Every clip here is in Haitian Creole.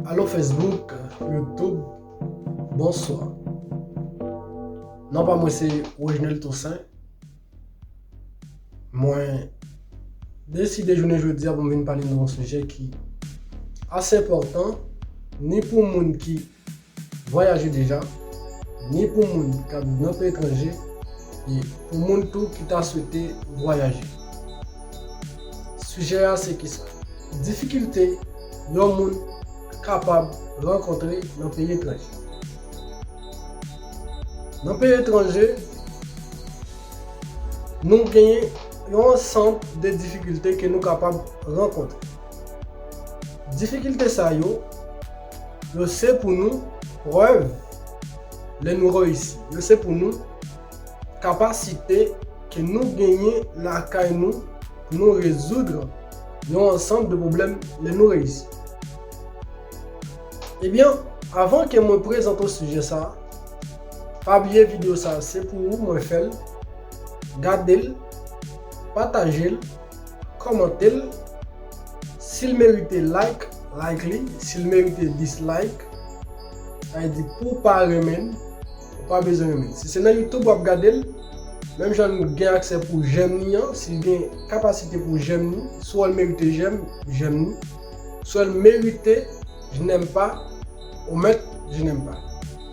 Allo Facebook, YouTube, bonswa. Non pa mwen se Reginel Toussaint. Mwen deside jounen jodi a pou mwen pale nou yon sujè ki ase important ni pou moun ki Vwayaje deja, ni pou moun k ap viv nan peyi etranje e pou moun tou ki ta swete vwayaje. Sijè a se kisa? Difikilte yon moun kapab rankontre nan peyi etranje. Nan peyi etranje, nou genyen yon ansanm de difikilte ke nou kapab rankontre. Difikilte sa yo. Yo se pou nou prèv lè nou reyisi. Yo se pou nou kapasite ke nou genyen lakay nou pou nou rezoudre yon ansanb de pwoblèm lè nou reyisi. Ebyen, avan ke mwen prezante w sijè sa, pa bliye video sa se pou ou mwen fè l, gade l, pataje l, Kòmantel sil merite like like li sil merite dislike sa vle di pouw pa renmenn ou pa bezwen renmenn si se nan youtube wap gadel menm jan nou gen aksè pou jèm ni an sil gen kapasite pou jèm ni si wèl merite jèm jèm ni si wèl merite jnèm pa ou mèt jnèm pa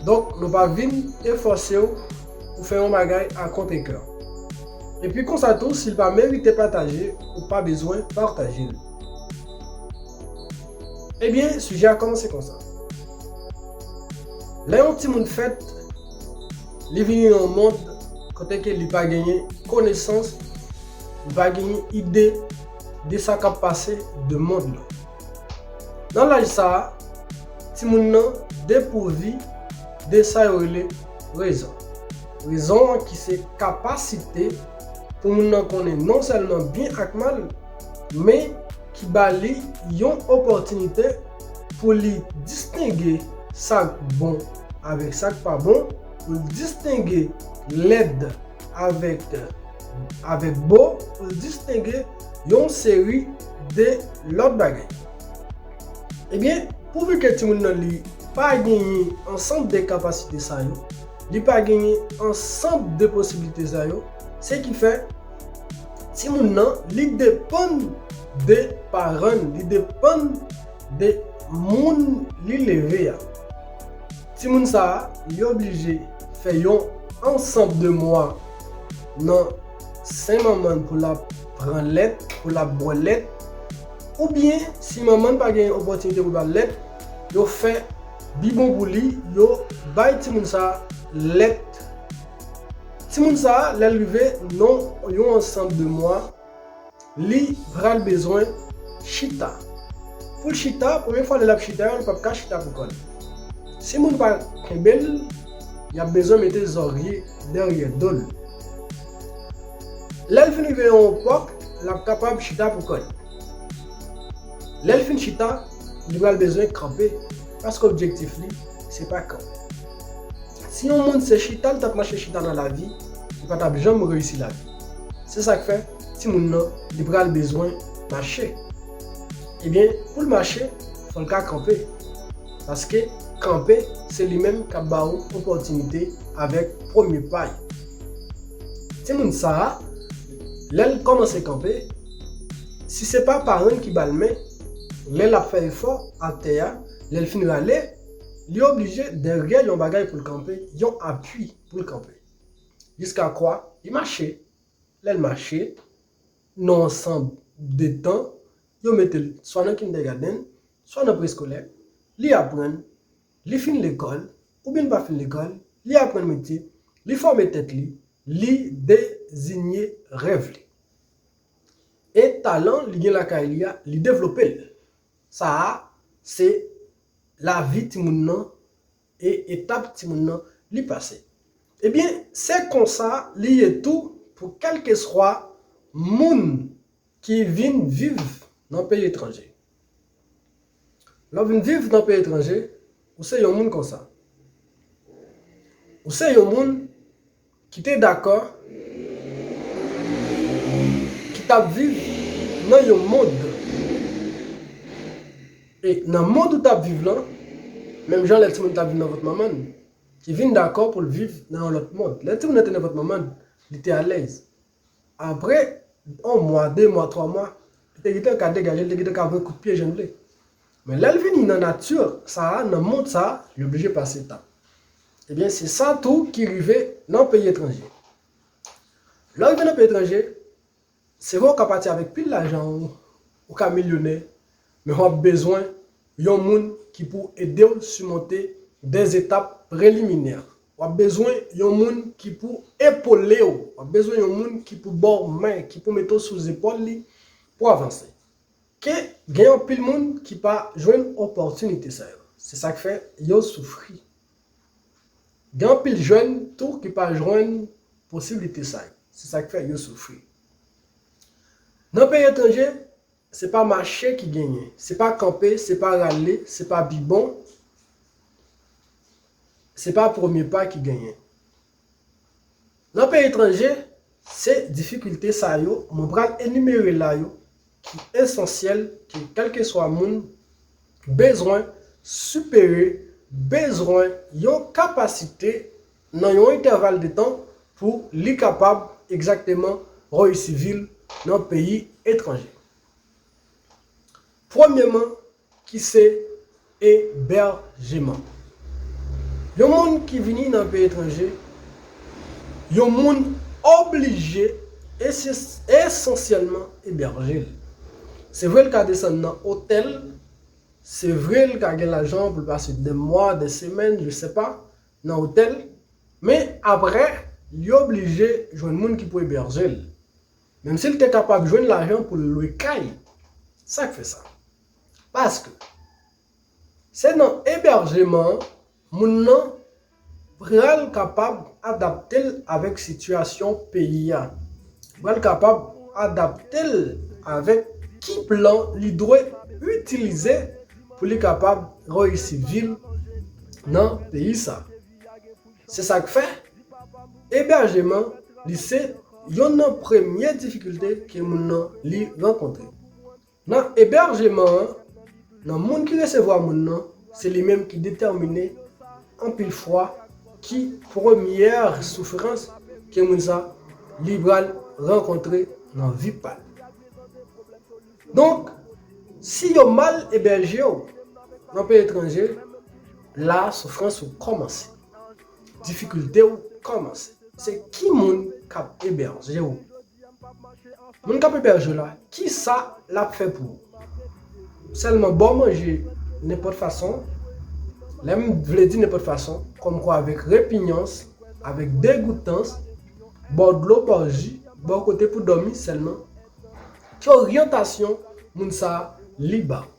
donk nou pa vin e fòsew ou fè yon bagay a kont e kè. Epi konsa tou si l pa merite pataje ou pa bezwen pataje l. Ebyen sijè a kòmanse konsa. Lè yon timoun fèt, li vini nan yon mond kote ke li pa genyen konesans, li pa genyen ide de sa k ap pase de mond lan. Nan laj sa a, timoun nan depouvi de sa yo rele rezon. Rezon an ki se kapasite pou moun nan konnen non sèlman byen ak mal, men ki ba li yon opòtinite pou li distenge sa k bon avèk sa k pa bon, pou l distenge lèd avèk avèk bo pou l distenge yon seri de lòt bagay. Ebyen, pouvi ke timoun nan li pa genyen ansanb de kapasite sa yo, li pa genyen ansanb de posiblite sa yo, se ki fè timoun nan li depann de paran l, li depann de moun li leve a. Timoun sa yo blije fè yon ansanb de mwa nan sen manman n pou l ap pran lèt, pou l ap bwè lèt, oubyen si manman n pa gen opòtinite pou l ba lèt, yo fè bibon pou li, yo bay timoun sa lèt. Timoun sa lè l rive nan yon ansanb de mwa, Li pral bezwen chita. Pou l chita, premye fwa lè l ap chita yo, li pap ka chita pou kò l. Si moun pa kenbe l, y ap bezwen mete zòrye dèryè do l. Lè l fin rive yon epòk, l ap kapab chita pou kò l. Lè l fin chita, li pral bezwen kanpe, paske objektif li, se pa kanpe. Si yon moun se chita l t ap mache chita nan lavi, li pa t ap janm reyisi lavi l. Se sak fè timoun nan li pral bezwen mache. Ebyen poul mache fòl ka kanpe. Paske kanpe se li menm kap ba ou opòtinite avèk premye pay. Timoun sa a lèl kòmanse kanpe si se pa parann ki bal men lè lap fè efò ak tè a lèl fin rale li oblije dèryè yon bagay poul kanpe yon apui poul kanpe. Jiska kwa li mache. Lè l mache, nan ansanm de tan, yo mete l swa nan kindègadenn, swa nan preskolè, li aprann, li fin lekòl, oubyen li pa fin lekòl, li aprann metye, li fòme tèt li, li dezinye rèv li. E talan li gen lakay li a, li devlope l. Sa a, se lavi timoun nan e etap timoun nan li pase. Ebyen se konsa li ye tou pou kèlkeswa moun ki vin viv nan peyi etranje. Lè w vin viv nan peyi etranje, ou se yon moun konsa. Ou se yon moun ki te dakò ki t ap viv nan yon mond e nan mond ou t ap viv lan menm jan lè timoun t ap viv nan vant manman l ki vin dakò pou l viv nan yon lòt mond lè timoun nan te nan vant manman l li te alèz Apre yon mwa, de mwa, twa mwa, li te gentan ka degaje, li te gentan ka voye kout pye jan l vle. Men lè l vini nan nati sa a, nan mond sa a, li oblije pase etap. Ebyen, se sa tou ki rive nan peyi etranje. Lè w rive nan peyi etranje, se vre ou ka pati avèk pil lajan ou, ou ka milyonè, men w ap bezwen yon moun ki pou ede w simonte dèz etap preliminè. Wap bezwen yon moun ki pou epolew, wap bezwen yon moun ki pou baw men, ki pou mete w sou zepòl li pou avanse. Ke gen anpil moun ki pa jwenn opòtinite sa yo. Se sak fè yo soufri. Gen anpil jèn tou ki pa jwenn posiblite sa yo. Se sak fè yo soufri. Nan peyi etranje, Se pa mache ki genyen. Se pa kanpe, se pa rale, se pa pi bon, se pa premye pa ki genyen. Nan peyi etranje, se difikilte sa yo mwen pral enimere la yo ki esansyèl ke kèlkeswa moun bezwen sipere, bezwen yon kapasite nan yon entèval de tan pou li kapab egzakteman reyisi vi l nan peyi etranje. Premyeman, ki se ebèjeman? Yon moun ki vini nan peyi etranje, yon moun oblije esansyèlman ebèje l. Se vre l ka desann nan otèl, se vre l ka gen lajan pou l pase 2 mwa, 2 semèn, je sè pa, nan otèl, men aprè li oblije jwenn moun ki pou ebèje l, menm si l te kapab jwenn lajan pou l lwe kay. Sa k fè sa? Paske, se nan ebèjeman an moun nan pral kapab adapte l avèk sitiyasyon peyi a, li pral kapab adapte l avèk ki plan li dwe itilize pou li kapab reyisi vi l nan peyi sa. Se sa k fè, ebèjeman li se yonn nan premye difikilte ke moun nan li rankontre. Nan ebèjeman an, nan moun ki resevwa moun nan, se li menm ki detèmine anpil fwa ki premyè soufrans ke moun sa li pral rankontre nan vi pa l. Donk, si yo mal ebèje w nan peyi etranje, la soufrans ou kòmanse. Difikilte w kòmanse. Se ki moun k ap ebèje w? Moun k ap ebèje w la, ki sa l ap fè pou ou? Sèlman ba w manje nenpòt fason, lè m vle di nenpòt fason, kòmkwa avèk repinyans, avèk degoutans, ba w dlo, ba w ji, ba w kote pou dòmi sèlman? Ki oryantasyon moun sa li ba ou?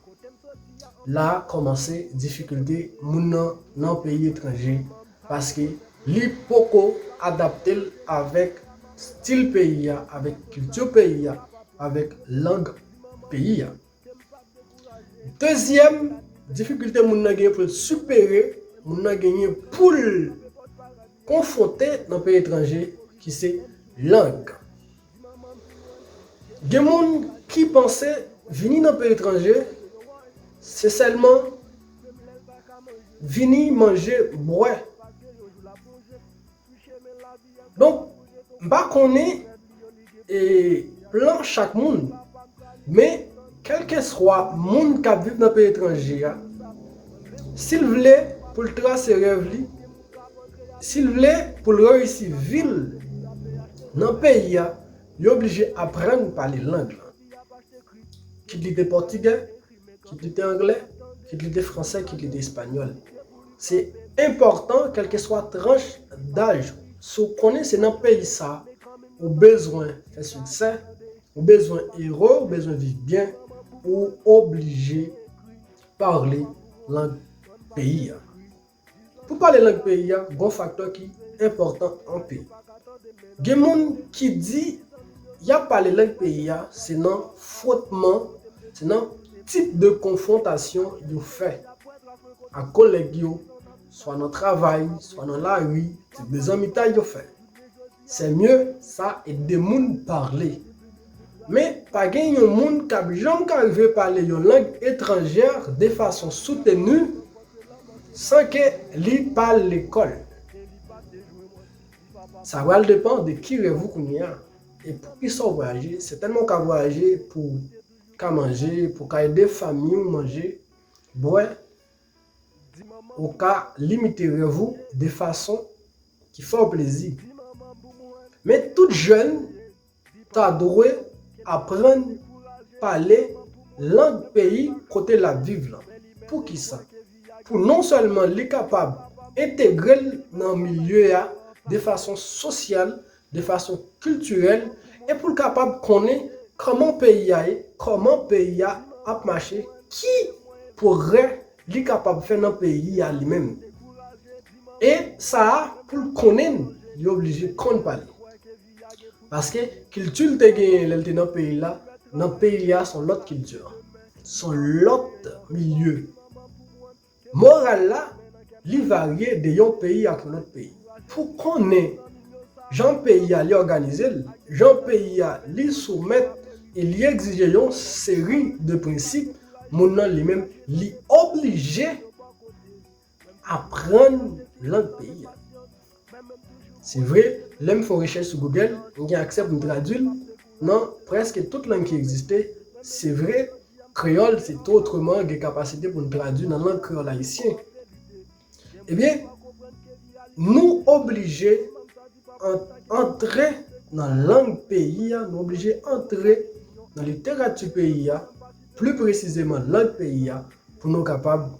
La kòmanse difikilte moun nan nan peyi etranje paske li poko adapte l avèk stil peyi a, avèk kilti peyi a, avèk lang peyi a. Dezyèm difikilte moun nan genyen pou l sipere, moun nan genyen pou l konfwonte nan peyi etranje ki se lang. Gen moun ki panse vini nan peyi etranje se sèlman vini manje, bwè. Donk, m pa konnen plan chak moun, men kèlkeswa moun k ap viv nan peyi etranje a, si l vle pou l trase rèv li, Sil vle poul reyisi vil nan peyi a li oblije aprann pale lang lan. Kit li te pòtigè, kit li te anglè, kit li te fransè, kit li te espanyòl. Se enpòtan kèlkeswa tranch daj ou, si w konnen se nan peyi sa ou bezwen fè siksè, ou bezwen ere, ou bezwen viv byen, ou oblije pale lang peyi a. Pou pale lang peyi a, gon faktè ki enpòtan anpil. Gen moun ki di yap pale lang peyi a se nan fwotman, se nan tip de konfwontasyon yo fè ak kolèg yo, swa nan travay, swa nan lari, tip de zanmitay yo fè. C'est mieux sa et de moun parle. Men pa gen yon moun kap janm ka rive pale yon lang étrangère de façon soutenue san ke li pa al lekòl. Sa pral depan de ki rèv ou kounye a e pou ki sa ou vwayaje. Sètènman ou ka vwayaje pou ka manje, pou ka ede fanmi ou manje, bwè, Ou ka limite rèv ou de fason ki fè w plezi. Men tout jèn ta dwe aprann pale lang peyi kote l ap viv lan. Poukisa? Pou non sèlman li kapab entegre l nan milye a de fason sosyal de fason kiltirèl e pou l kapab konnen kòman peyi a ye, kòman peyi a ap mache, ki pwogrè li kapab fè nan peyi a li menm. E sa a pou l konnen l, li oblije konn pale. Paske kilti l te genyen lè l te nan peyi l la, nan peyi a s on lòt kilti, s on lòt milye. Moral la, li varye de yon peyi ak yon lòt peyi. Pou konnen jan peyi a li òganize l, jan peyi a li soumèt e li egzije yon seri de prensip, moun nan li menm li oblije aprann lang peyi a. Se vre, lè m fè rechèch sou Google, m gen aksè pou m tradui l nan prèske tout lang ki egziste. Se vre, kreyòl se to otreman gen kapasite pou n tradui nan lang kreyòl ayisyen. Ebyen, nou oblije antre nan lang peyi a, nou oblije antre nan literati peyi a, pli presizeman lang peyi a, pou nou kapab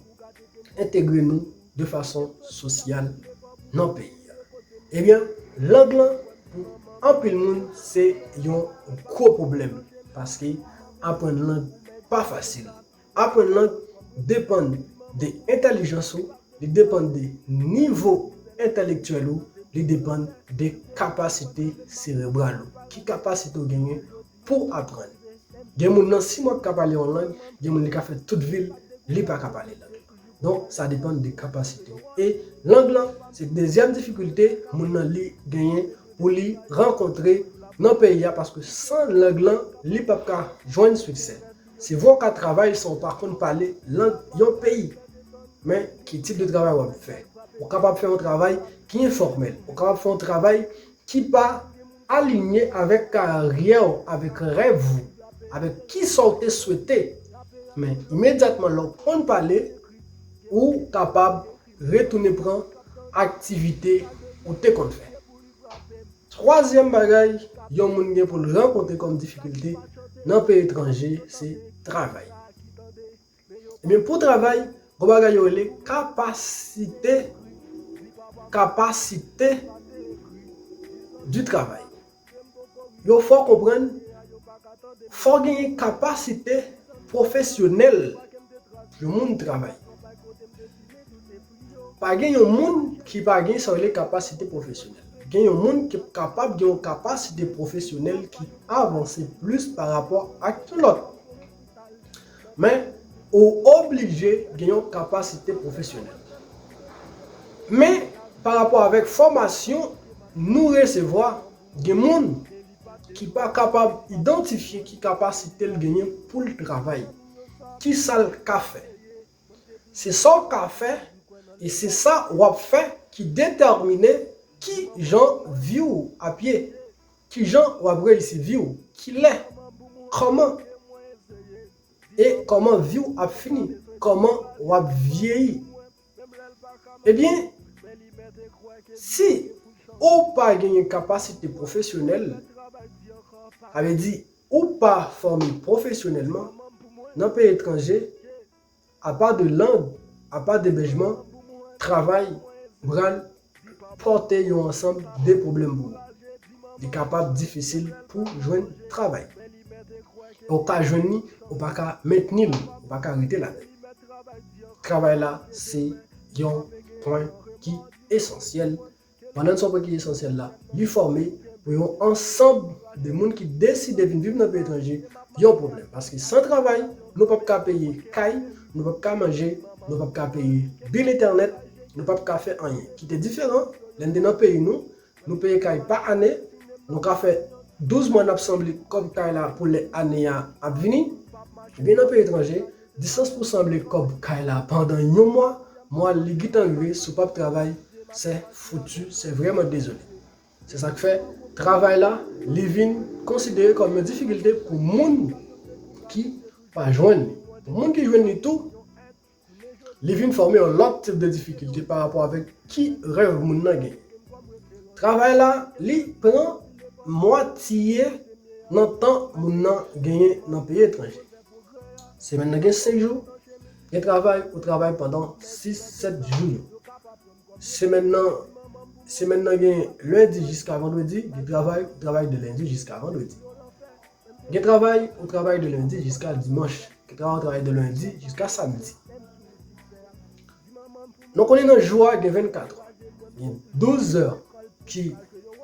entegre nou. de fason sosyal nan peyi a. Ebyen, lang lan pou anpil moun se yon gwo pwoblèm paske aprann lang pa fasil. Aprann lang depann de entèlijans ou, li depann de nivo entèlektyèl ou, li depann de kapasite serebral ou. Ki kapasite ou genyen pou w aprann. Gen moun nan 6 mwa ki ka pale yon lang, gen moun li ka fè tout vi l li pa ka pale lang lan. Donk sa depann de kapasite w. E lang lan se dezyèm difikilte moun nan li genyen pou li rankontre nan peyi a paske san lang lan li p ap ka jwenn siksè. Se vre w ka travay san w pa konn pale lang yon peyi. Men ki tip de travay w ap fè. Ou kapab fè yon travay ki enfòmèl. Ou kapab fè yon travay ki pa alinye avèk karyè w, avèk rèv ou, avèk kisa w te swete, men imedyatman lè w konn pale, ou kapab retounen pran aktivite ou te konn fè. Twazyèm bagay yon moun gen pou l rankontre kòm difikilte nan peyi etranje se travay. Ebyen pou travay, gon bagay yo rele kapasite, capacité du travail. Yo fè w konprann fò w genyen kapasite pwofesyonèl yon moun travay. Pa gen yon moun ki pa gen sa yo rele kapasite pwofesyonèl. Gen yon moun ki kapab gen yon kapasite pwofesyonèl ki avanse plis pa rapò ak yon lòt. Men, ou oblije gen yon kapasite pwofesyonèl. Men, parapò avèk fòmasyon nou resevwa, gen moun ki pa kapab idantifye ki kapasite l genyen pou l travay. Ki sa l ka fè? Se sa w ka fè e se sa w ap fè ki detèmine ki jan vi w ap ye. Kijan wap reyisi viw kilè kòman e kòman viw ap fini kòman wap vyeyi ebyen si ou pa genyen kapasite pwofesyonèl sa vle di ou pa fòme pwofesyonèlman nan peyi etranje Apa de lang, apa de lojman, travay pral pote yon ansanm de pwoblèm pou ou. Li kapab difisil pou jwenn travay. Ou ka jwenn li, ou pa ka mentni li, ou pa ka rete ladan li. Travay la se yon pwen ki esansyèl Pandan n son pwen ki esansyèl la, li fòme, pou yon ansanb de moun ki deside vin viv nan peyi etranje, yon pwoblèm. Paske san travay, nou p ap ka peye kay, nou p ap ka manje, nou p ap ka peye bil entènèt, nou p ap ka fè anyen. Ki te diferan, lè n te nan peyi nou, nou peye kay pa ane, nou ka fè 12 mwa n ap sanble kòb kay la pou lè ane a ap vini. Ebyen nan peyi etranje, Disans pou sanble kòb kay la pandan yon mwa, mwa li gintan rive si w pap travay sè foutu sè vrèman dezole. Se sak fè travay la li vin konsidere kòm yon difikilte pou moun ki pa jwenn li. Pou moun ki jwenn li tou, li vin fòme yon lòt tip de difikilte pa rapò avèk ki rèv moun nan gen. Travay la li pran mwatye nan tan moun nan genyen nan peyi etranje. Semèn nan gen 5 jou, gen travay ou travay pandan 6, 7 jou yo. Semèn nan, semèn nan gen lendi jiska vandredi, gen travay ou travay de lendi jiska vandredi. Gen travay ou travay de lendi jiska dimanch, gen travay ou travay de lendi jiska samdi. Nou konnen nan jou a gen 24 è. Gen 12 zè ki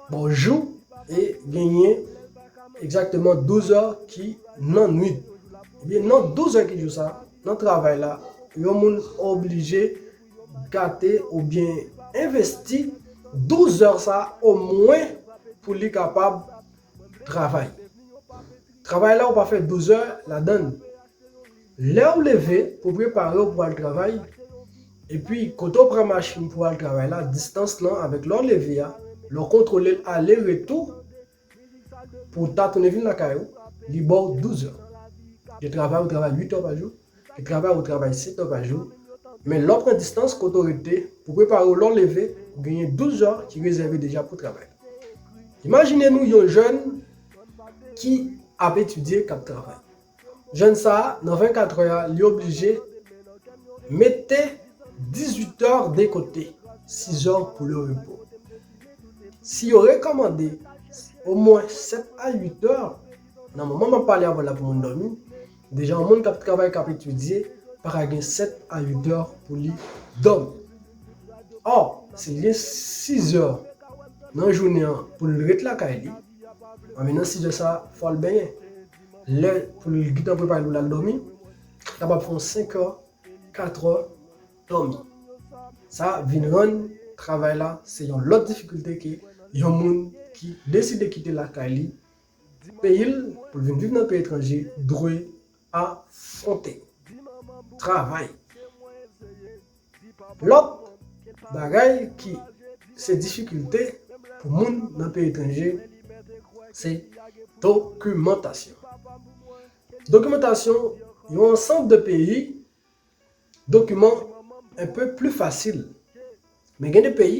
ba w jou e genyen egzakteman 12 zè ki nan nwit. Ebyen nan 12 zè ki jou sa, nan travay la, yon moun oblije gate oubyen envesti 12 zè sa omwen pou li kapab travay. Travay la ou pa fè 12 zè ladann. Lèw leve pou preparew pou al travay, epi kote ou pran machin pou al travay la distans lan avèk lèw leve a, lèw kontwolel ale retou pou ta tounen vin lakay ou li baw 12 heures. Gen travay ou travay 8 heures pa jou, gen travay ou travay 7 heures pa jou, men lèw pran distans kote ou rete pou preparew lèw leve ou genyen 12 heures ki rezève deja pou travay. Imajine nou yon jèn ki ap etidye kap travay. Jèn sa a, nan 24 trè a, li oblije mete 18 tè de kote, 6 zè pou le repo. Si yo rekòmande omwen 7 a 8 tè, nan moman m ap pale avè w la pou moun dòmi, deja yon moun k ap travay, k ap etidye pa ka gen 7 a 8 tè pou li dòmi. Ò, si li gen 6 zè nan jounen an pou l ret lakay li, anben nan 6 zè sa a, fò l benyen. lè pou l gntan prepare pou l al dòmi, li kapab fè yon 5 è, 4 è dòmi. Sa vin rann travay la se yon lòt difikilte ke yon moun ki deside kite lakay li, peyi l pou l vin viv nan peyi etranje dwe afwonte. Travay! Lòt bagay ki se difikilte pou moun nan peyi etranje se dokimantasyon. Dokimantasyon yon ansanb de peyi dokiman enpe pli fasil men gen de peyi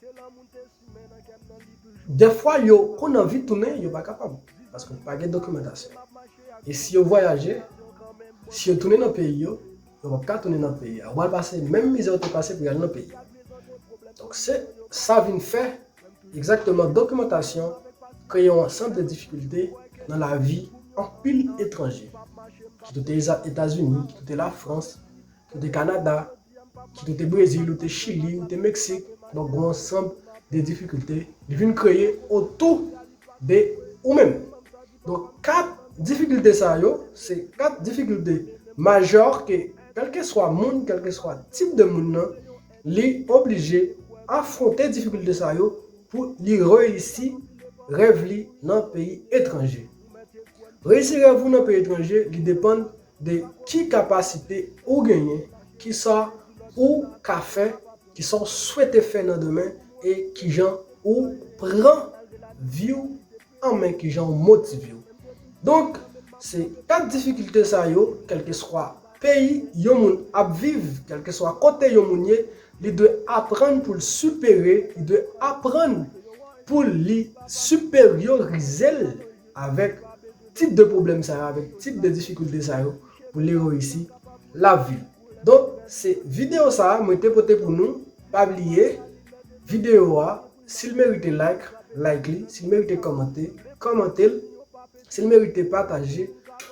Ke lanmou te simen nan kèm nan li toujou. Dèfwa yo konn anvi tounen yo pa kapab paske pa gen dokimantasyon e si yo vwayaje si yo tounen nan peyi yo yo pap ka tounen nan peyi a yo pral pase menm mizè yo te pase pou yal nan peyi a donk se sa vin fè egzakteman dokimantasyon kreye yon ansanb de difikilte nan lavi anpil etranje ki kite etazini ki kite lafrans ki kite kanada Kit ou te Brezil, ou te Chili, ou te Meksik, donk g'on ansanb de difikilte li vin kreye otou de ou menm. Donk 4 difikilte sa yo, se 4 difikilte majè ke kèlkeswa moun, kèlkeswa tip de moun nan, li oblije afwonte difikilte sa yo pou li reyisi rèv li nan peyi etranje. Reyisi rèv ou nan peyi etranje, li depann de ki kapasite ou genyen, kisa ou ka fè, kisa w swete fè nan demen e kijan ou pran vi w an men, kijan ou motive w. Donk, se 4 difikilte sa yo, kèlkeswa peyi yon moun ap viv, kèlkeswa kote yon moun ye, li dwe aprann pou l sipere, li dwe aprann pou li siperyorize l. avèk tip de pwoblèm sa yo, avèk tip de difikilte sa yo pou li reyisi la vi. Donk se videyo sa a mwen te pote pou nou, pa bliye videyo a si l merite like, like li, si l merite kòmante, kòmante l, si l merite pataje,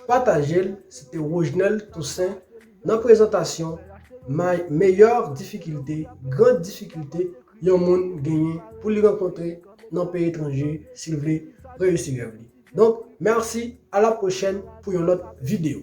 pataje l, se te Rojnel Toussaint. nan prezantasyon may meyò difikilte, gran difikilte, yon moun genyen pou li rankontre nan peyi etranje si l vle reyisi rèv li. Donk, mèsi, a la pwochèn pou yon lòt videyo.